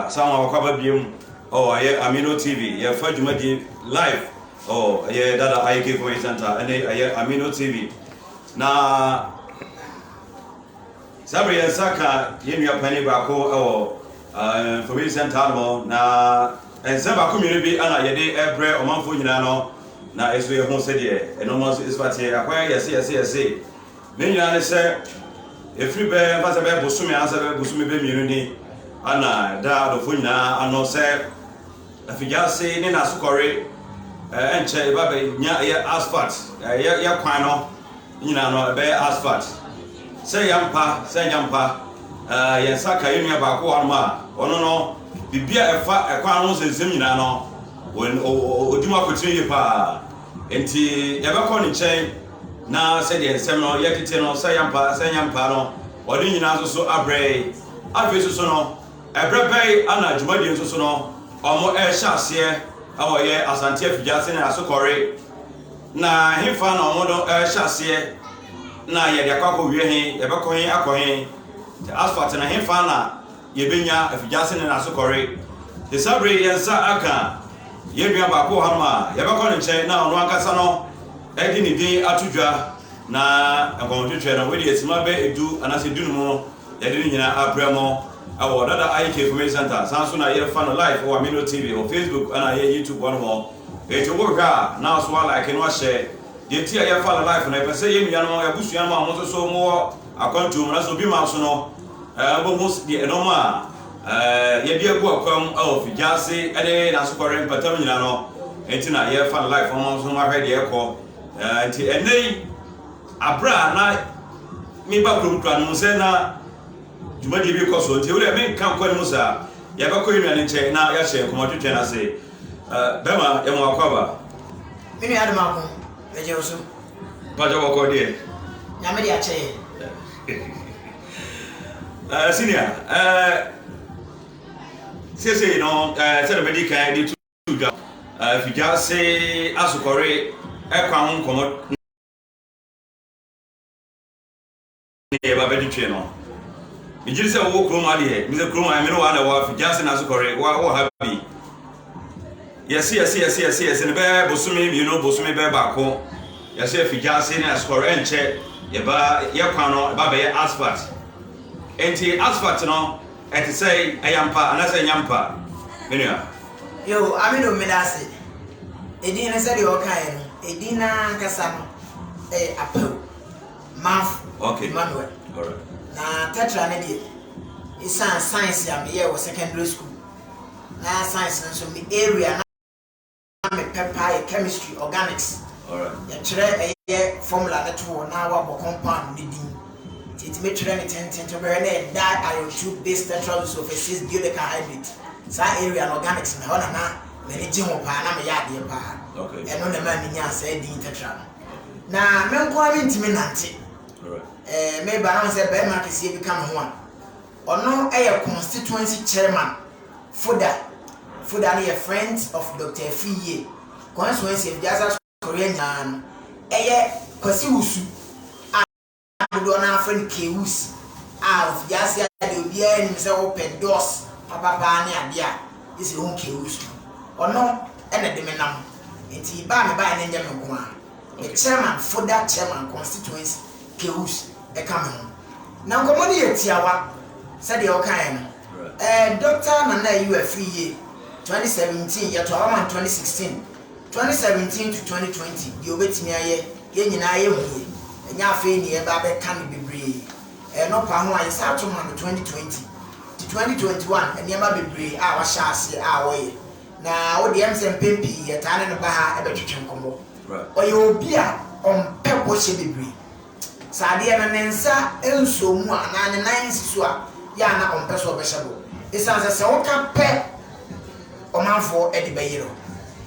Samuel wɔ kɔ aba biom oh ɛyɛ Amino TV yɛ fa dwumadie live oh ɛyɛ dada IK Community Center ɛne ɛyɛ Amino TV na saa bere yɛn nsa ka yɛn nua panyin baako ɛwɔ uh, Community Center no na nsɛm baako mmienu bi ɛna yɛde ɛbrɛ ɔmanfoɔ nyinaa no na ɛso yɛ ho sɛdeɛ ɛnɔma nso ɛsifa teɛ akɔyɛ yɛse yɛse yɛse Ne nyinaa ne sɛ, ɛfiri bɛ yɛmfa sɛ bɛyɛ bosome anaasɛ bɛyɛ bosome bɛ mmienu ni ana ɛda adɔfoɔ nyinaa ano sɛ afigyaase ne n'asokɔre ɛnkyɛ ɛba bɛ nya ɛyɛ asphalt ɛyɛ yɛ kwan no nyinaa no ɛbɛyɛ asphalt sɛ yɛ mpa sɛ nya mpa yɛn nsa ka yɛn nua baako wɔ anoma a ɔno no biribi a ɛfa ɛkwan ho nsɛnsɛm nyinaa no ɔdi mu akotene yie paa nti yɛbɛkɔ ne nkyɛn Na sɛdeɛ nsɛm no yɛ tete no, sɛ yɛampa ara, sɛ yɛampa ara no, ɔde nyinaa nso so abrɛe. Afei nso so no, ɛberɛ bɛn ara na dwumadie nso so no, wɔrehyɛ aseɛ wɔ yɛ Asante afigya ase ne Asokɔre, na hefa na wɔn no rehyɛ aseɛ, na yɛde akɔ akɔwie he, yɛbɛkɔ he akɔ he, Asfalt no hefa na. Yebenya afigye ase ne n'asokɔre. Te sɛ bere yɛn nsa aka yɛn nua baako wɔ hanom a, yɛbɛkɔ ne nkyɛn na ɔno ankasa no de ne din ato dwa, na nkɔntwetwe no, wedeɛ simma bɛyɛ du anaasɛ du num no, yɛde ne nyinaa aprɛ mo wɔ Dada IK Information Centre. Saa nso na yɛfa no live wɔ Amino TV wɔ Facebook ɛna ɛyɛ YouTube hɔnom. Enti wo hwɛ a na nso wa like na wa share. Deɛ nti a yɛfa no live no, yɛpɛ sɛ yɛn nuanom, yɛn abusua nom a mo nso so mo wɔ akwantuo mu nanso obi mma so no, Bohu deɛ ɛnɔm a yɛde agu akwam wɔ fidiase ne n'asokɔre mpatam nyinaa no nti na yɛrefa no life ɔma nso mahwɛ deɛ ɛkɔ nti ɛnɛ yi abere a na meba kurom kura no sɛ na dwumadie bi kɔ so nti wodɛ menka nkɔ anim saa yɛbɛkɔ yɛ nuane nkyɛn na yɛahyɛ nkɔmmɔtwetwɛn no ase bɛma yɛmu akɔ aba me nua adom ako megye wo so mpakyɛ wɔkɔ deɛ nyame de akyɛ yɛ Ɛɛ eh, senior ɛɛ eh, sese no ɛɛ eh, sɛ dɛm adi kan de tu dwa ɛɛ fidwa se asokɔre ɛkwan ho nkɔmɔ ne yɛ ba bɛde twɛ no megye sɛ wowɔ kurom adeɛ mesɛ kurom a ɛmene wɔ ana wɔ afidwa se n'asokɔre wɔ ha bi yɛse yɛse yɛse yɛse yɛse no bɛyɛ bosome mmienu bosome bɛyɛ baako yɛse afigya ase ne asukɔre ɛnkyɛ yɛba yɛ kwan no ɛba bɛyɛ asphalt nti asphalt no ɛte sɛ ɛyɛ mpa anaasɛ ɛnyɛ mpa menua yo amino mmeda ase edin no sɛdeɛ ɔkaeɛ no edin no ankasa no ɛyɛ apaw maf okay. manuel right. na tetra no deɛ ɛsiane science a meyɛɛ wɔ secondary school Na science no nso me area na me pɛ paa yɛ chemistry, organics. Yɛ twerɛ ɛyɛ formula no to hɔ na wabɔ compound no din. Nti yɛ tumi twerɛ no tenten to bɛhwɛ na yɛ die iron tube base tetra use of a six biodeca hydrate. Saa area no organics no ɛhɔ na na m'ani gye ho paa na me yɛ adeɛ paa. Ɛno na ɛmaa me nyaa saa din tetra no. Na me nko ara me ntumi nante. Ɛɛ me ba na wɔn sɛ bɛɛma kɛseɛ bi ka me ho a. Ɔno yɛ Constituency Chairman, Foda, Foda no yɛ Friends of Doctor Afiri Yie Constituency of Diaza Korea nyinaa no, ɛyɛ Kwasi Wusu a dodoɔ no ara frɛ no K-Wus a ɔfiri aseɛ a deɛ obiara nim sɛ wopɛ Dɔs papa paa ne adeɛ a gye sɛ wohu K-Wus no. Ɔno na ɛde me nam, nti ba a mebaeɛ no nyɛ me nko ara, me Chairman, Foda Chairman Constituency. Keus ka me ho. Na nkɔmmɔ no yɛ tiawa, sɛdeɛ ɔkaeɛ no. Ɛɛ Dɔkta Nana Ayew Afriyie, 2017, Yɛtoa Hɔ Man 2016, 2017 to 2020, Deɛ Ɔbɛtumi Ayɛ, Yɛn Nyinaa Yɛhuui, Ɛnyɛ Afei Na Yɛreba Abɛka no Bebree, Ɛɛ Nɔpa Ho A Yɛsan To Ma No 2020 to 2021, Nneɛma Bebree A Wahyɛ Aseɛ A Ɔyɛ. Na wo deɛ, ɛm sɛ mpɛn pii yɛtaa ne no ba ha bɛtwetwe nkɔmmɔ. Ɔyɛ obi a ɔmpɛ bɔhyɛ bebree. Sɛ adeɛ no ne nsa nsɔɔ mu a anaa ne nan nsi so a, yɛ a na ɔmpɛ sɛ ɔbɛhyɛ bɔ. Esiane sɛ sɛ ɔka pɛ, ɔmanfoɔ de bɛyere wo.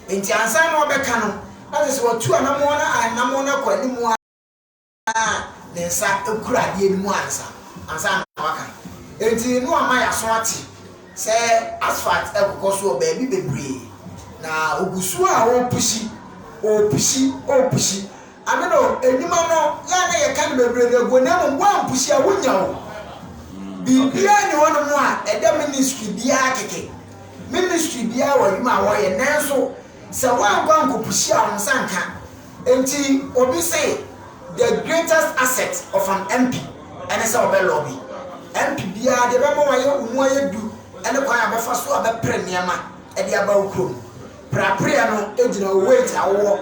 Enti ansa na ɔbɛka no, na kyerɛ sɛ watu anammɔn no anammɔn no akɔ anim ara. na ne nsa kura adeɛ no mu ansa ansa na waka. Enti no ama yɛaso ate sɛ asphalt kɔkɔ so wɔ baabi bebree, na ɔgu so a ɔrepushi, ɔrepushi, ɔrepushi. Ɛno no, nnwuma no, yɛ a na yɛka no bebree de aguo, na mmom woampushi a wonnya o. Biribiara nni hɔnom a ɛda ministry biara kɛkɛ. Ministry biara wɔ adwuma a wɔyɛ, nanso sɛ woankɔ ankɔpushi a wo nsa nka. Enti obi se the greatest asset of an MP ne sɛ ɔbɛ lobby. MP biara deɛ ɛbɛma wayɛ wo mu ayɛ du ne kwan a ɔbɛfa so abɛpre nneɛma de aba wo kurom. Prapreɛ no gyina wo weight a wowɔ,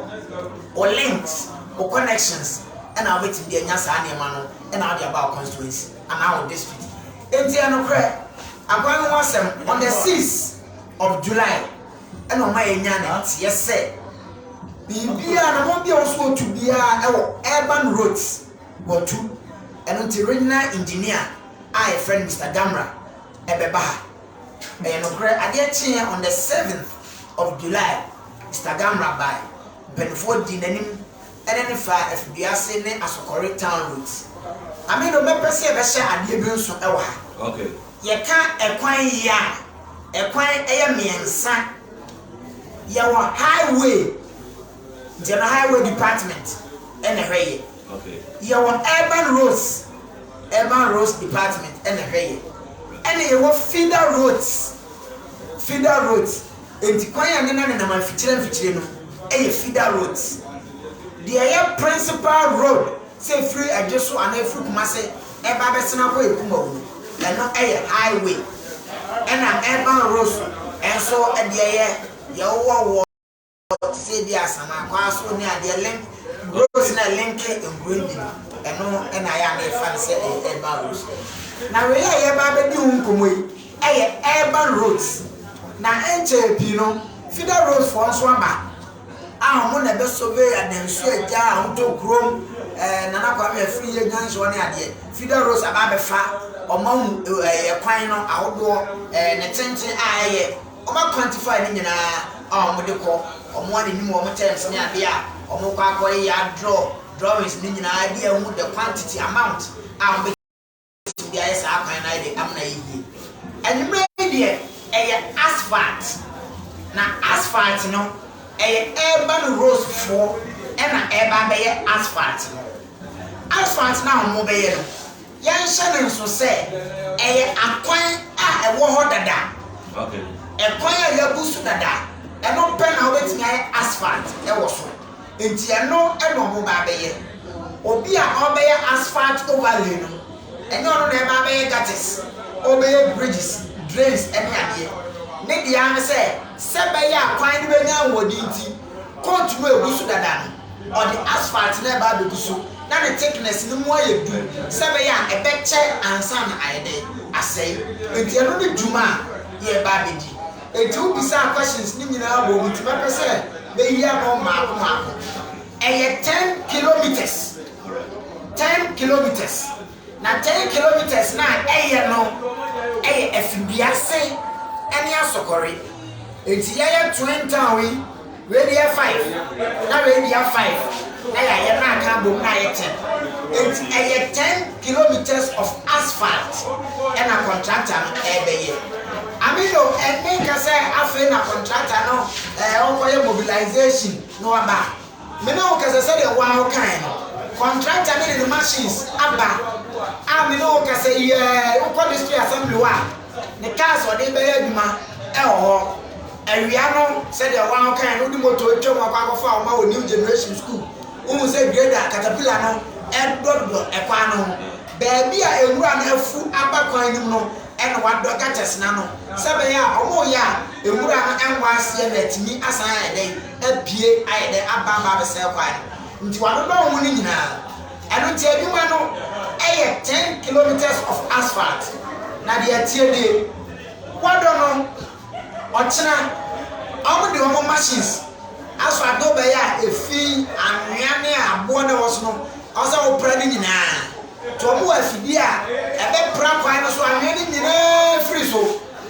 wo links, wo connections na wobɛtumi de anya saa nneɛma no na wode aba wo constituency anaa wo district. Enti ɛnokorɛ, akwan ho asɛm on the sixth of July. na ɔma yɛnya ne nteɛ sɛ biribiara anamɔn bi a wɔso wɔtu biara wɔ urban roads wɔtu ɛno nti regional engineer a yɛfrɛ no Mr. Damra ɛbɛba ha ɛyɛ nokorɛ adeɛ kyeɛ on the 7th of July Mr. Damra bae mpanimfoɔ dii n'anim ɛne no faa afiduase ne asɔkɔre town road. Ame do mɛpɛ sɛ yɛbɛhyɛ adeɛ bi nso wɔ ha. Yɛka ɛkwan yi a, ɛkwan yɛ mmiɛnsa. Yɛwɔ highway, nti ɛno highway department na ɛhwɛ yɛ. Yɛwɔ urban roads, urban roads department na ɛhwɛ yɛ. Ɛna yɛwɔ feeder roads, feeder roads. Enti kwan a ne nan nenam amfikyire amfikyire no yɛ feeder roads. Deɛ ɛyɛ principal road sɛ ɛfiri Adweso anaa ɛfiri Kumase ɛreba abɛsene akɔ Ekumawu no, ɛno yɛ highway. Ɛna urban roads nso deɛ ɛyɛ deɛ wowɔ wɔ te sɛ ebia Asana, Kwaso ne adeɛ link roads no a ɛlinke nkuro yi bi no, ɛno na ayɛ a na yɛfa no sɛ ɛyɛ urban roads. Na wei a yɛreba abɛdi ho nkɔmmɔ yi, yɛ urban roads na nkyɛɛ pii no feeder roads foɔ nso aba a ɔmo na ɛbɛ survey adansuo agya a ɔmo tɔ kurom ɛɛ Nana Kwame Afriyie Nyansoɔ ne adeɛ feeder roads aba abɛ fa ɔmo ahu ɛɛ ɛkwan no ahodoɔ ɛɛ ne tenten a ɛyɛ ɔmo a quantify ne nyinaa a ɔmo de kɔ ɔmo a n'anim ɔmo terms ne adeɛ a ɔmo kɔ akɔ yɛ a draw drawings ne nyinaa de ahu the quantity amount a ɔmo bɛ Wobɛtumi ayɛ saa kwan no ara de amena ayɛ yie. Anwummerɛ yi deɛ, ɛyɛ asphalt. Na asphalt no, ɛyɛ urban rosefoɔ na ɛreba abɛyɛ asphalt no. Asphalt no a wɔbɛyɛ no, yɛnhyɛ no nso sɛ ɛyɛ akwan a ɛwɔ hɔ dada. Ɛkwan a yɛabu so dada, ɛno pɛ na wobɛtumi ayɛ asphalt wɔ so. Enti ɛno na ɔmo ba abɛyɛ. Obi a ɔrebɛyɛ asphalt overlay no, ɛnyɛ ɔno na ɛba abɛyɛ gutters, ɔrebɛyɛ bridges, drains ɛne adeɛ. Ne deɛ ara ne sɛ, sɛ ɛbɛyɛ a kwan no bɛnya ahoɔden nti, coat no a egu so dada no, ɔde asphalt no ɛba abegu so na ne thickness no mu ayɛ du sɛ ɛbɛyɛ a ɛbɛkyɛ ansa na ayɛ dɛn? Asɛe. Enti ɛno ne dwuma a yɛreba abɛdi. Enti wo bisaa questions no nyinaa wom nti mɛpɛ sɛ meyi ano mmaako mmaako. Ɛyɛ ten kilometres, ten kilometres, na ten kilometres no a ɛyɛ no yɛ Afiriduase ne Asokore. Enti yɛyɛ Twin Town yi. Wei deɛ yɛ five na wei deɛ five na yɛayɛ na aka abom na ayɛ ten nti ɛyɛ ten kilometres of asphalt na contractor no ɛrebɛyɛ. Amino ɛnne nka sɛ afei na contractor no ɛɛ ɔrekɔyɛ mobilisation na waba. Me ne wo kasa sɛdeɛ wo ara wokaeɛ no, contractor no de ne machines aba a me ne wo kasa yi ara wokɔ district assembly hɔ a, ne kaa sɛ ɔde rebɛyɛ adwuma wɔ hɔ. Awia no, sɛdeɛ wɔn a wɔkaeɛ no, wode motor atwam akɔ akɔfa wɔn wɔ New Generation School. Wohu sɛ grader, caterpillar, no redodɔ kwan no ho. Baabi a nwura no afu aba kwan no mu no na wɔadɔ gutters no ano sɛ ɛbɛyɛ a wɔreyɛ a nwura no nnkɔ aseɛ na atumi asan ayɛ dɛn? Apue ayɛ dɛn? Aba aba abɛsɛe kwan no. Nti wɔadodɔ ho no nyinaa. Ɛno nti adwuma no yɛ ten kilometres of asphalt na deɛ ɛteɛ nie, Kwadwo no, ɔkyena, wɔn de wɔn machines asɔ adeɛ bɛyɛ a efi anwea ne aboɔ na ɛwɔ so no wɔn sɛ wɔpra ne nyinaa, nti wɔn wɔ afidie a ɛbɛpra kwan no so anwea no nyinaa firi so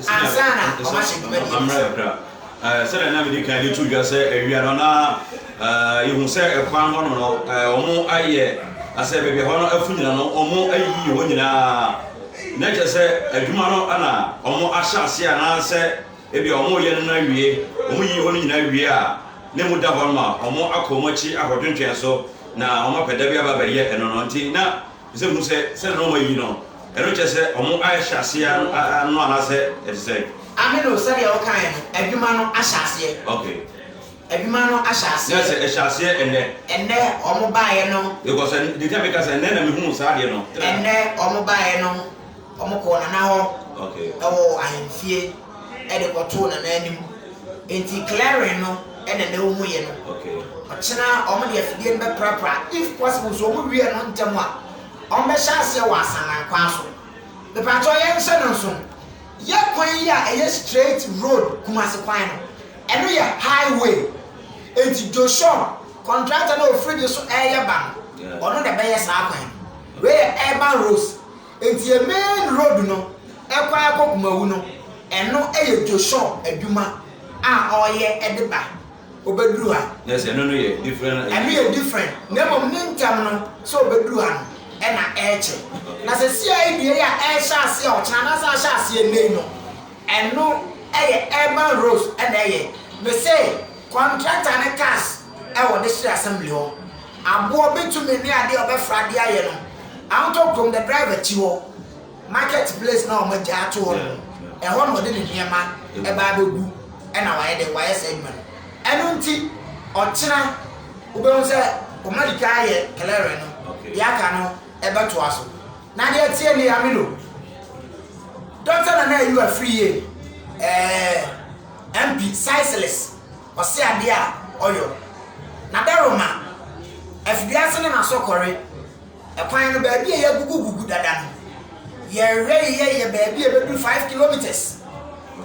ansa na wɔn ahyɛ dwuma die no ase. Sɛnea na midi kan de too dwa sɛ awia no na yehu sɛ kwan hɔ no no wɔayɛ asɛ baabi a hɔ no afu nyina no wɔayiyi hɔ nyinaa na kyerɛ sɛ adwuma no na wɔahyɛ ase anaasɛ ebia wɔreyɛ no na awie wɔyiyi hɔ no nyinaa wie a na emu da hɔ no ma wɔakɔ wɔn akyi akɔtwentwɛn so na wɔapɛ da bi aba abɛyɛ ɛno no nti na Bisa hu sɛ, sɛdeɛ na wɔayi no, ɛno kyerɛ sɛ wɔahyɛ aseɛ ara no anaasɛ ɛte sɛn? Amen o, sɛdeɛ wokaeɛ no, adwuma no ahyɛ aseɛ. Okay. Adwuma no ahyɛ aseɛ. Nurse, ɛhyɛ aseɛ ɛnnɛ? Ɛnnɛ wɔn baeɛ no. Because ɛn, deɛ nti a meka sɛ ɛnnɛ na mehuu saa adeɛ no. Ɛnnɛ wɔn baeɛ no, wɔkɔɔ Nana hɔ. Okay. Ɛwɔ ahemfie. de kɔtoo Nana anim. Enti clearing no na na wɔn yɛ no. Ɔkyena wɔn de afidie no bɛprapra. If possible so wɔn wie no ntɛm a, wɔn bɛhyɛ aseɛ wɔ Asanman kwan so. Mepakyɛw yɛn hyɛ no nso, yɛ kwan yi a ɛyɛ straight road Kumasi kwan no, ɛno yɛ highway. Enti Joshon, contractor no a ɔfiri de so reyɛ ba no, ɔno na ɛbɛyɛ saa kwan no. Wei yɛ urban roads. Ntie main road no kwan kɔ kumawu no ɛno yɛ joshon adwuma a ɔyɛ de ba ɔbɛduru ha. Nurse ɛno no yɛ different. Ɛno yɛ different na mmom ne ntɛm no sɛ ɔbɛduru ha no ɛna ɛkyɛ na sɛ CID yi a ɛhyɛ aseɛ ɔkyena anaasɛ ahyɛ aseɛ nnɛ yi no ɛno yɛ urban roads ɛna ɛyɛ mese. Kɔntrakta ne cars a wɔde hyɛ assembly hɔ, aboɔ, bitumen ne adeɛ a wɔbɛfra de ayɛ no, Awotɔ kurom the driver akyi hɔ, market place no a wɔagya ato hɔ no, ɛhɔ na ɔde ne nneɛma ba abɛgu na wayɛ dɛn, wayɛ saa adwuma no. Ɛno nti ɔkyena wobɛhu sɛ wɔadi kan ayɛ clearing no, deɛ aka no bɛtoa so. Na deɛ teɛ nie, Amilo, Doctor Nana Ayuwa firi yie, ɛɛ. MP Sycilus ɔse adeɛ a ɔyɔ na dɛ roma afidiase ne n'asɔkɔre kwan no baabi a y'agugu gugu dada no yɛrewɛ yeyɛ yɛ baabi a ɛbɛduru five kilometres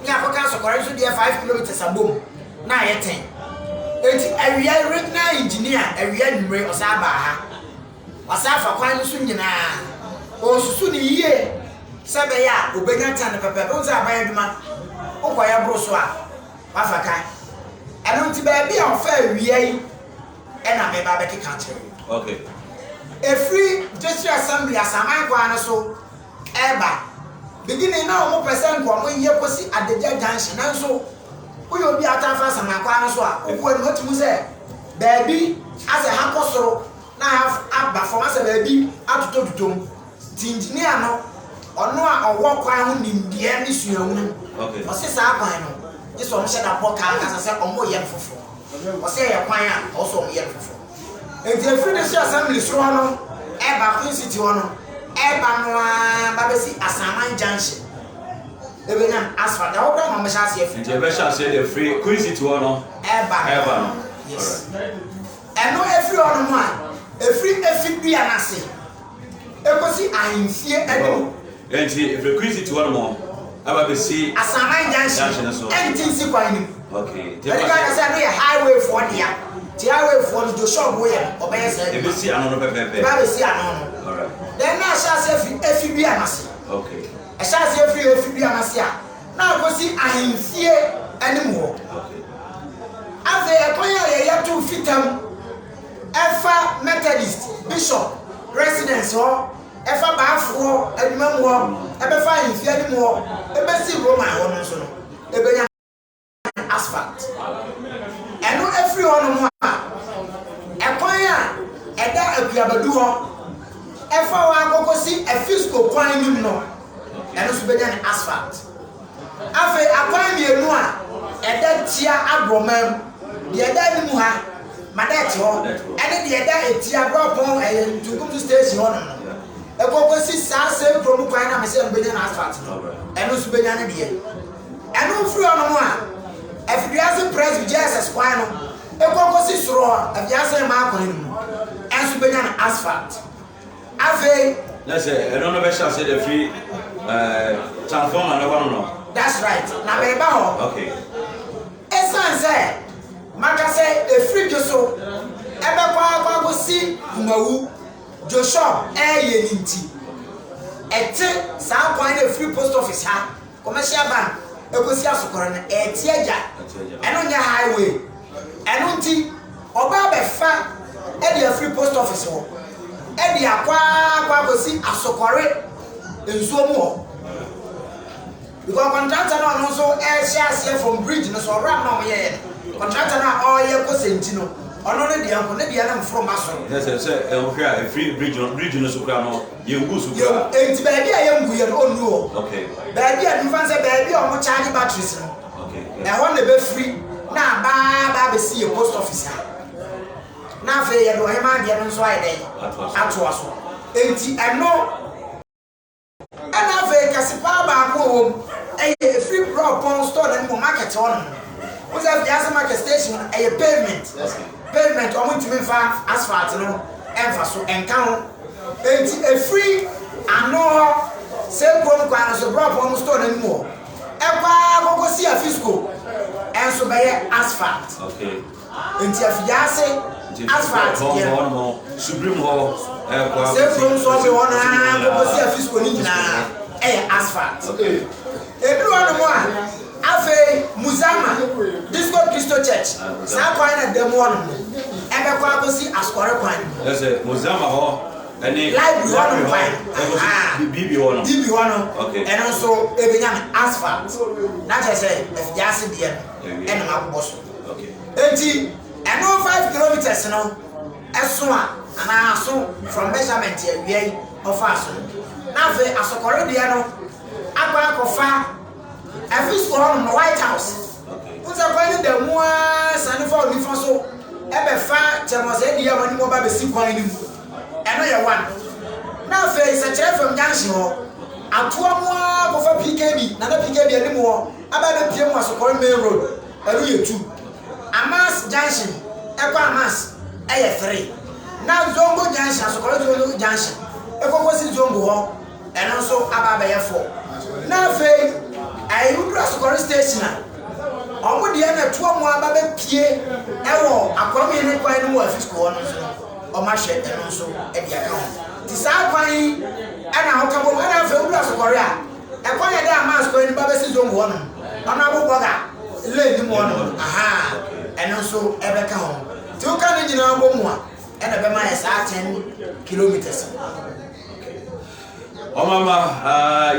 ne akɔka asɔkɔre nso deɛ five kilometres abom na ayɛ ten enti awia regional engineer awia anwummere ɔsan baa ha Ɔsan afa kwan no so nyinaa. Ɔresusu no yie sɛ ɛbɛyɛ a ɔbɛnya tan no pɛpɛɛpɛ. Wohu sɛ aban adwuma, wokɔ yɛ boro so a, woafa tan. Ɛno nti baabi a ɔfa awia yi na meba abɛkeka akyerɛ wo. Okay. Ɛfiri District Assembly Asaman kwan no so reba. Beginning na wɔpɛ sɛ nka wɔyɛ kɔsi Adagya Junction nanso woyɛ obi a wotaa fa Asaman kwan no so a, wokɔ anim a wotumi hu sɛ baabi asɛ ha kɔ soro. na have aba fam asɛ baabi atotɔtotɔ mu nti engineer no ɔno a ɔwɔ kwan ho nimdeɛ ne suahunu Okay. ɔse saa kwan no gye sɛ ɔmo hyɛ da bɔ kaa kasa sɛ ɔmo yɛ no foforo ɔse ɛyɛ kwan a ɔwɔ sɛ ɔmo yɛ no foforo enti efiri district assembly soro hɔ no ɛba Queen City hɔ no ɛba no ara ba bɛsi Asaman junction ebenya asphalt ɛhɔ koraa na ɔmo hyɛ aseɛ firi Nti ɛbɛhyɛ aseɛ deɛ firi Queen City hɔ no ɛba no ɛba no. yes. Alright. Ɛno firi hɔnom a, ɛfiri efi dua no ase kɔsi ahemfie anim. Enti ɛfiri Quincy ti hɔnom aba abɛsi. Asaman Junction no so. Ɛnte nsi kwan no mu. Okay. Ɛde ka sɛ ɛno yɛ highway foɔ dea. Ti highway foɔ no Joshua Obuo yɛ no ɔbɛyɛ saa adwuma. Ɛbɛsi ano no pɛpɛɛpɛ. Ɛbɛ abɛsi ano no. Alright. Then na ahyɛ aseɛ firi efi dua no ase. Okay. Ɛhyɛ aseɛ firi efi dua no ase a. na akosi ahemfie anim hɔ. Afei ɛkwan a yɛyɛ to Fitam ɛfa Methodist Bishop Residence hɔ, ɛfa Baafo hɔ, Adwuma mu hɔ, ɛbɛfa ahemfie anim hɔ, ɛbɛsi Roma hɔ no nso no, ɛbɛnya. asphalt. Ɛno firi hɔnom a, ɛkwan a ɛda Abuiabadu hɔ ɛfa hɔ ara kɔkɔsi Afisco kwan no mu no, ɛno nso bɛnya ne asphalt. Afei akwan mmienu a ɛda tia Aborɔma mu, deɛ ɛda anim ha, Madɛt hɔ, ɛne deɛ ɛda atia Brɔpɔn ɛyɛ Ntukumtu station hɔnom no, ɛkɔkɔsi saa same kurom kwan no a mese no bɛnya no asphalt no, ɛno nso bɛnya ne deɛ. Ɛno mfiri hɔ nom a, ɛfiri wiase presby Jesus kwan no kɔ kɔsi soro hɔ a, wiase mmaa kwan no mu nso bɛnya no asphalt. Afei. Na sɛ ɛno no bɛhyɛ ase da firi ɛɛ transformer no hɔ no. That's right. Na mɛba hɔ. Okay. Ɛsan sɛ maka sɛ ɛfiri dwo so ɛbɛkɔ akɔ akɔsi kumawu dwo shop ɛɛyɛ no nti, ɛte saa kwan no ɛfiri post office ha Commercial van ɛkɔsi asokɔre no ɛɛte agya ɛno nyɛ high way ɛno nti ɔba abɛfa ɛde afiri post office hɔ ɛde akɔ akɔ akɔsi asokɔre nsuo mu hɔ because contractor no ɔno nso ɛɛhyɛ aseɛ from bridge no so ɔwura no ɔyɛ yɛ contractor no a ɔyɛ kɔ sɛnti no ɔno ne deɛ nko ne deɛ no mforo ma so. Ɛsɛ sɛ sɛ ɛwohwɛ a ɛfiri bridge no bridge no so kura no Yɛngu so koraa. Yɛngu, enti baabi a yɛngu yɛ no ɔnnu hɔ. Okay. Baabi a nifa sɛ baabi a wɔn charge batteries no. Okay. Ɛhɔ na ɛbɛfiri na aba aba abɛsi yɛ post office ha. Na afei yɛde ɔhema adeɛ no nso ayɛ dɛ atoa so. Enti ɛno ɛna afei kɛse paa baako wɔ wɔm ɛyɛ ɛfiri brɔpɔn store no anim market hɔ no. Wosɛ fiase market station ɛyɛ pavement. Pavement a wɔntumi mfa asphalt no mfa so nka ho. Enti ɛfiri ano hɔ, saa kurom kwan no so, berɛ a wɔpɔn store no anim hɔ, ɛkɔ ara kɔkɔsi Afisco nso bɛyɛ asphalt. Enti afigya ase asphalt deɛ no, saa kurom so ɔfe hɔ no ara kɔkɔsi Afisco no nyinaa yɛ asphalt. Ɛduru hɔnom a, Afei Muzama Disco Christo Church, saa kwan na da mu hɔnom no, ɛbɛkɔ akosi asɔre kwan no mu. Ɛsɛ Muzama hɔ ɛne Library hɔnom kwan no, ahaa, BB hɔ no, BB hɔ no, okay, ɛno nso ɛbɛnya no asphalt, na kyerɛ sɛ afiase deɛ no ɛna makobɔ so, okay, enti ɛno five kilometres no ɛso a, anaa aso from measurement awia yi ɔfaa so no, na afei asɔkɔre deɛ no akɔ akɔfa. Afei so wɔ hɔnom no, White House, wohu sɛ kwan no da mu ara sane fa onifa so bɛfa Kyerɛmɔsɛe Dua a wɔde mu ɔba bɛsi kwan no mu. Ɛno yɛ one. Na afei sɛ kyerɛ fam junction hɔ, atoa mu ara kɔfa PKB, Nana PKB anim hɔ, aba abɛpia mu Asokɔre Main Road, ɛno yɛ two. Amas junction ɛkɔ Amas ɛyɛ three. Na Zongo junction, Asokɔre Zongo junction ɛkɔ kɔsi Zongo hɔ, Ɛno nso aba abɛyɛ four. Na afei ɛɛ woduru asokɔre station a, wɔn deɛ na ɛtoa wɔn aba bɛpie ɛwɔ Akwaa Mmiene kwan no mu wɔ Afisco hɔ no nso no, wɔn ahwɛ ɛno nso ɛde aka ho. Nti saa kwan yi ɛna wɔka bom. Ɛna afei woduru asokɔre a, ɛkwan a ɛda Amas kwan no mu ba bɛsi Zongo hɔ nom, Honourable Burger lane no mu hɔ nom no, ahaa, ɛno nso ɛbɛka ho. Nti woka ne nyinaa bɔ mu a, ɛna ɛbɛma ayɛ saa ten kilometres no. Ɔmama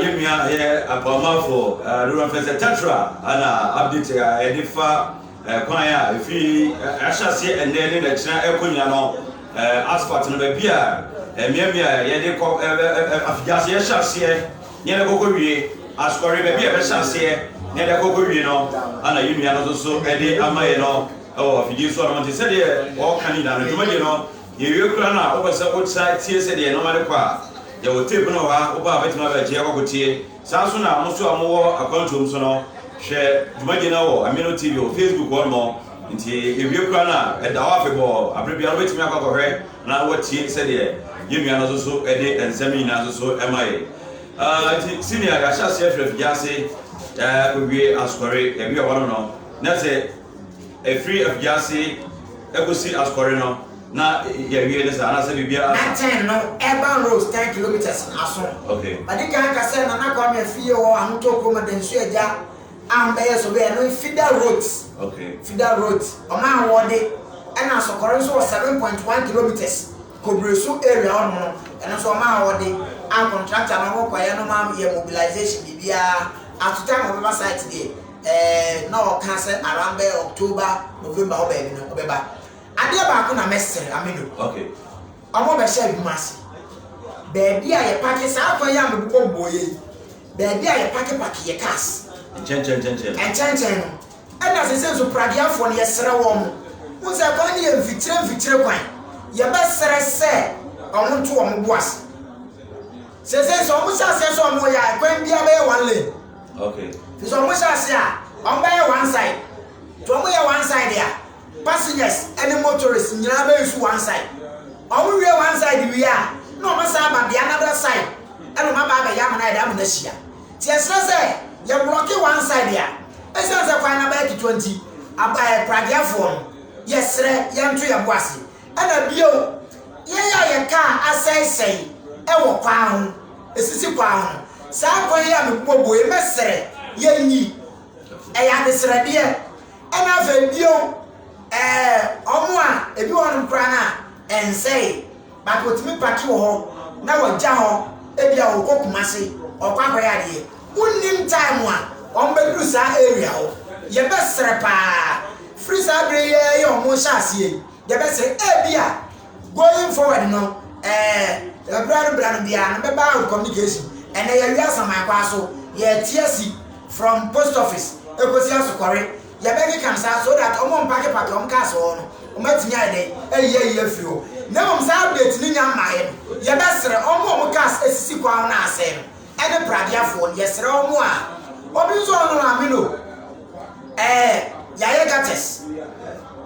yɛn nua a yɛ akwamafo Lora Fɛsɛ Tatra na update a ɛde fa kwan a efi ahyɛ aseɛ ɛnnɛ ne n'akyina ɛkɔ nyina no asphalt no baabi a mmeammea a yɛde kɔ afigyaase yɛhyɛ aseɛ ne yɛde kɔkɔ wie asɔre baabi a yɛbɛhyɛ aseɛ ne yɛde kɔkɔ wie no ana yɛn nua no nso so ɛde ama yɛ no ɛwɔ afidie so anam nti sɛdeɛ ɔka ne nyina no dwumadie no Yewie koraa no a, wopɛ sɛ wosan tie sɛdeɛ nnoɔma rekɔ a, yɛwɔ tape no wɔ ha, wo paa bɛtumi abɛgye akɔ akɔtie. Saa ara nso na mo nso a mowɔ akwantuo mu nso no, hwɛ dwumadie no wɔ Amino TV wɔ Facebook hɔ nom. Nti yɛwie koraa no a, ɛda hɔ afebɔɔ, aberɛ biara wobɛtumi akɔ akɔhwɛ na woatie sɛdeɛ yɛn nua no nso so de nsɛm no nyinaa nso so ma yɛn. Ah, nti senior, yɛahyɛ aseɛ firi afigya ase akɔwie asɔre, yɛwie hɔ nom no, na sɛ. Ɛfiri afiase kɔsi asukɔre no na yɛawie ne saa anaasɛ biribiara asa? Natɛn no urban roads ten kilometres no aso. Okay. Madi kan aka sɛ Nana Kwame afie hɔ Ahotɔ kurom de nso agya a mbɛyɛ so bɛyɛ no feeder roads. Okay. Feeder roads ɔmo ahoɔde ɛna asukɔre nso wɔ seven point one kilometres. Kobire so area hɔ nom no ɛno nso ɔmaa wɔde a contractor no ɔkɔ kɔyɛ no maa yɛ mobilization biribiara after time a ɔbɛba site deɛ ɛɛ na ɔka sɛ around bɛyɛ October November hɔ baabi no ɔbɛba adeɛ baako na mɛsrɛ Aminu wɔn a ɔbɛhyɛ adwuma ase baabi a yɛ pake saa kwan yi a mebobɔ boɔ yɛ yi baabi a yɛ pake pake yɛ cars nkyɛnkyɛn nkyɛnkyɛn no nkyɛnkyɛn no Ɛna sesei nso Pragueafoɔ no yɛsrɛ wɔn, wohu sɛ kwan no yɛ mfikyire mfikyire kwan, yɛbɛsrɛ sɛ wɔn nto wɔn bo ase. Sesei sɛ wɔn hyɛ aseɛ sɛ wɔn yɛ a, kwan biara bɛyɛ one lane. Okay. Nti sɛ wɔn hyɛ aseɛ a, wɔn bɛyɛ one side. Nti wɔn yɛ one side a, passengers ɛne motorists nyinaa bɛyɛ su one side. Wɔn wie one side wie a, na wɔn san aba the another side ɛna wɔn aba abɛyɛ amena yɛde amena hyia. Nti yɛsrɛ sɛ yɛ blɔke one side a ɛsiane sɛ kwan no abɛyɛ ketewa nti ɛɛ pradeɛfoɔ no yɛsrɛ yɛnto yɛn bo ase ɛna bio yɛn yɛ a yɛ kaa asɛesɛe ɛwɔ kwan ho ɛsisi kwan ho saa kwan yi a mebobɔbɔ yi mɛsrɛ yɛnyi ɛyɛ adesrɛdeɛ ɛna afei bio ɛɛ ɔmo a ebi wɔ nom koraa no a ɛnsɛe But otumi pake wɔ hɔ na wagya hɔ ebia ɔkɔ Kumasi ɔkɔ akɔyɛ adeɛ wonnim time a wɔn bɛduru saa area hɔ yɛbɛsrɛ paa firi saa bere yi ara yi a wɔn rehyɛ aseɛ yi yɛbɛsrɛ ebia going forward no ɛɛ ɛberɛ no berɛ no biara no bɛba out communication ɛnɛ yɛwea Asaman kwaa so yɛte asi from post office ɛkɔsi Asokɔre yɛbɛkeka no saa so that wɔn a wɔpake pake wɔn cars wɔ hɔ no wɔn atumi ayɛ dɛn ayi ayi afiri hɔ na mmom saa update no nya mmaeɛ no yɛbɛsrɛ wɔn a wɔn cars asisi kwan ho na asɛe no ɛne pradeafoɔ no yɛsrɛ wɔn a wɔn nso wɔn no maame no ɛɛ yɛayɛ gutters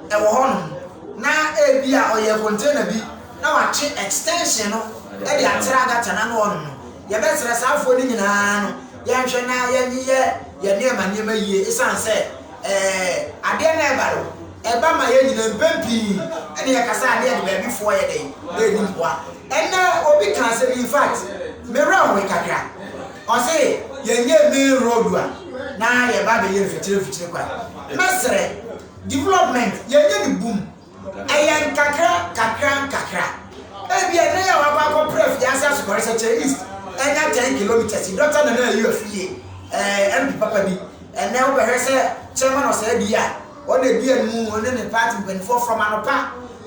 ɛwɔ hɔ no na ebi a ɔyɛ container bi na watwe extension no ɛde atra gutter na no wɔn no yɛbɛsrɛ saafoɔ no nyinaa no Yɛnhwɛ na yɛnyeyɛ yɛn nneɛma nneɛma yie ɛsiane sɛ adeɛ no a ɛba no, ɛba ma yɛn nyinaa mpɛn pii na yɛkasa a na yɛde baabi foɔ yɛ dɛn? Na ɛni mmoa. Ɛnnɛ obi ka asɛm yi, in fact, me werɛ hoe kakra. Ɔse yɛnyɛ main road a na yɛba abɛyɛ mfikyire mfikyire kwan. Mɛsrɛ, development yɛnyɛ no bum Ɛyɛ nkakra nkakra nkakra. Ebia nnɛ yi a wɔakɔ akɔpra afiase asukɔre sɛ Cellist anya ten kilometres yi, Dɔkta Nana Ayew Afie, ɛɛ MP papa bi, ɛnnɛ wobɛhwɛ sɛ Chairman Ɔsɛɛdi a ɔna edi anim yi, ɔne ne party mpanyinfoɔ from anɔpa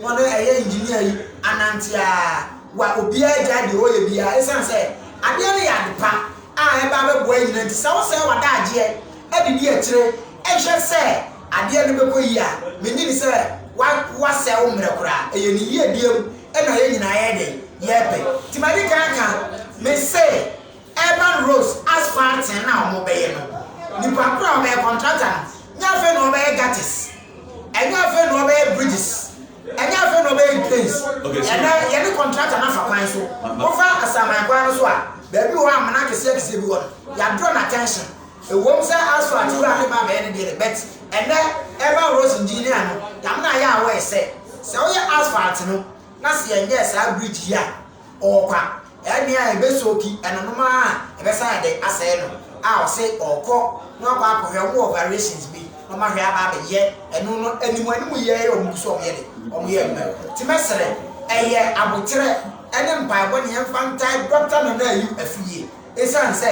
na ɔne ɛyɛ engineer yi anante a, wa obiara gyae deɛ ɔreyɛ biara esiane sɛ adeɛ no yɛ adepa a ɛba abɛboa yɛn nyinaa nti. Sɛ wosɛe w'adaagyeɛ adidi akyire hwɛ sɛ adeɛ no bɛkɔ yie a, mennye di sɛ wa, wasɛe wo mmerɛ koraa. Ɛyɛ Ne yiedie mu na yɛn nyinaa yɛyɛ dɛn? Yɛrepɛ. Nti madi kan aka, me se Urban Roads Asphalting no a wɔbɛyɛ no, nipa koro a ɔbɛyɛ, contractor no, nyɛ afei na ɔbɛyɛ gutters, ɛnyɛ afei na ɔbɛyɛ bridges, ɛnyɛ afei na ɔbɛyɛ drains. Okay, so. Ɛnɛ, yɛne contractor no afa kwan so. Wofa Asaman kwan no so a, baabi wɔ hɔ a amena akɛseɛ akɛseɛ bi wɔ no, yɛadraw no attention. Ɛwom sɛ Astro ate wura ne ba bɛyɛ ne deɛ de, but ɛnnɛ ɛba Rose ndin ne ano, Dame no ayɛ aware sɛ, sɛ woyɛ asphalt no na sɛ yɛnyɛɛ saa bridge yi a, ɔɔkwa, ɛnneɛ a ɛbɛ soaki ɛnonom ara a ɛbɛsan ayɛ dɛn asɛe no, a ɔse ɔɔkɔ na wakɔ akɔhwɛ, ɔmo wɔ variations bi na ɔmo ahwɛ aba abɛyɛ ɛno no, anim anim yɛ yɛ ɔmo gu so ɔmo yɛ de, ɔmo yɛ adwuma no, nti mɛsrɛ, ɛyɛ aboterɛ ɛne mpaebɔ ne yɛmfa ntae Doctor Nana Ayew Afie. Esiane sɛ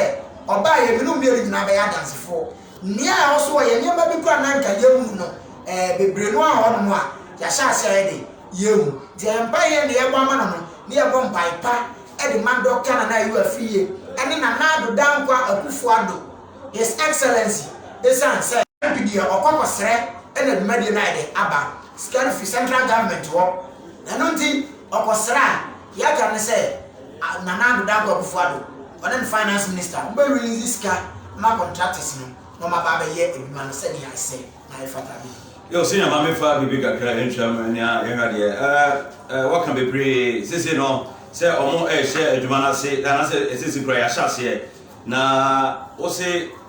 ɔbaa yɛ binom mmienu nyinaa bɛyɛ adansefoɔ. Nea ɛwɔ so ɔyɛ nneɛma bi koraa a na anka yɛnhu no ɛɛ bebree no wɔ hɔnom a yɛahyɛ ase ayɛ dɛ yɛahu. Nti ɛyɛ mpaeɛ yɛn deɛ yɛbɔ ama no no na yɛbɔ mpaeɛ pa de ma Dɔkta Nana Ayew Afriyie ne Nana Addo Dankwa Akuffo Addo, His Excellency, esiane sɛ. MP deɛ ɔkɔ akɔsrɛ na dwumadie no ayɛ dɛ aba sika no firi Central Government hɔ. Ɛno nti. Ɔkɔsraa Yatta no sɛ a Nana Addo Dankwa Akufo-Addo, ɔne no finance minister, wɔbɛ release sika ma contractors no na wɔn aba abɛyɛ adwuma no sɛnea ɛsɛ na ɛfata no yie. Yow senior ma me fa biribi kakra ntua ma nea yɛnhwɛ adeɛ ɛɛ ɛɛ waka bebree sesei no sɛ ɔmo ɛɛhyɛ adwuma no ase anaasɛ ɛsesei kura yɛahyɛ aseɛ na wose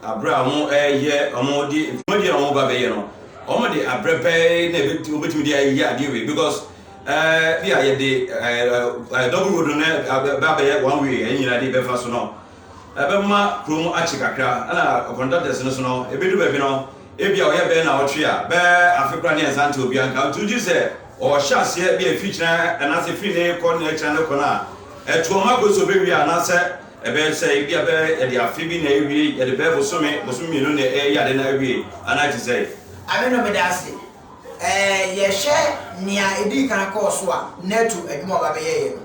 abrɛ a ɔmo ɛɛyɛ ɔmo de dwumadie a ɔmo ba bɛyɛ no ɔmo de abrɛ pɛɛ na ɛbɛ ɔbɛtumi de ayɛ adeɛ wei because Eh bia yɛde eh double road no ɛbɛ abɛyɛ one way yɛn nyinaa de bɛfa so no ɛbɛma kurom akye kakra ɛna conductors no so no ɛbɛdu baabi no ebia ɔyɛ bɛyɛ naawɔtwe a bɛɛ afe koraa ne yɛnsa nte obia nka nti wogye sɛ ɔhyɛ aseɛ bia ɛfiri kyina anaasɛ ɛfiri ne kɔ ne akyina ne kɔ no a ɛtoɔ ma kɔ sɛ ɔbɛwie a anaasɛ ɛbɛyɛ sɛ ebia bɛɛ yɛde afe bi na ɛwie yɛde bɛɛ bosome bosome mmienu na ɛyɛ ade na ɛwie anaa ɛte sɛ. Ame no meda ase Yɛhwɛ nea edii kan kɔɔ so a, NATO adwuma a ɔba bɛyɛeɛ no,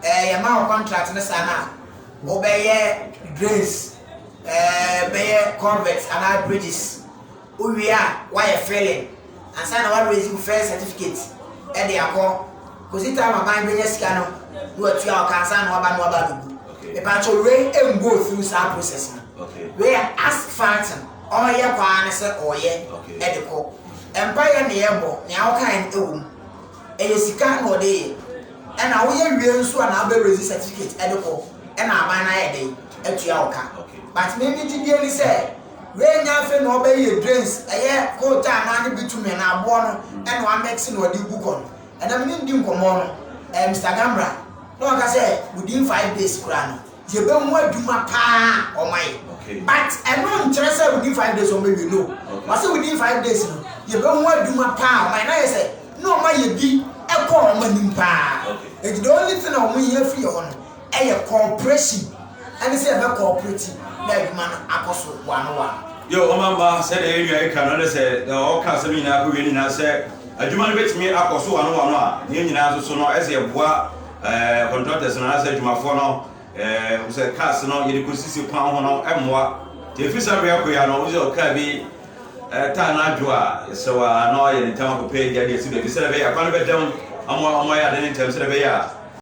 yɛmaa no contract no saa no a, wobɛyɛ drains, bɛyɛ culverts anaa bridges. Wowie a, woayɛ filling ansa na woa raise wo first certificate de akɔ. Kɔsi time aban bɛnya sika no na watua wo ka ansa na woaba na woaba abɛgu. Mepaakyɛw wei mmɔɔ through saa process no. Wei yɛ asphalt no. Ɔreyɛ paa ne sɛ ɔreyɛ de kɔ. Mpaeɛ na yɛrebɔ, nea wokaeɛ no wɔ mu. Ɛyɛ sika na ɔde reyɛ. Ɛna woyɛ wie nso a na wobɛ raise certificate de kɔ na aban no ayɛ dɛn atua wo ka. But me me gyidie ne sɛ wei nyɛ afei na ɔbɛyɛ drains, ɛyɛ coal tar no ara ne bitumen anaa aboɔ no na wamix na ɔde regu kɔ no. Ɛna me ne no di nkɔmmɔ no, ɛɛ Mister Gambra, na ɔka sɛ within five days koraa no, Yɛbɛhu adwuma paa a ɔmayɛ but ɛno nkyerɛ sɛ within five days ɔma wie no ɔse within five days no yɛbɛhu adwuma paa a ɔmayɛ na ayɛ sɛ na ɔma yɛ bi kɔ ɔmo anim paa nti the only thing a ɔmo hia firi yɛ hɔ no ɛyɛ cooperation ɛne sɛ yɛbɛ cooperate na adwuma no akɔ so one one. Yo ɔma mma sɛdeɛ yɛn nua yi ka no ne sɛ deɛ ɔka asɛm nyinaa kɔ wie no nyinaa sɛ adwuma no bɛtumi akɔ so one one a ne nyinaa nso so no ɛsɛ yɛboa Eh, contractors no anaasɛ adwumafoɔ no eh, hu sɛ cars no yɛde kɔsisi kwan ho no mmoa nti ɛfiri saa berɛ akoya no wosɛ ɔkaa bi eh, taa no adwo a yɛsrɛ wɔ a na ɔyɛ ne ntam akɔpɛ agya de asi baabi sɛdeɛ ɛbɛyɛ a kwan no bɛdam ama ɔmo ayɛ ade ne ntam sɛdeɛ ɛbɛyɛ a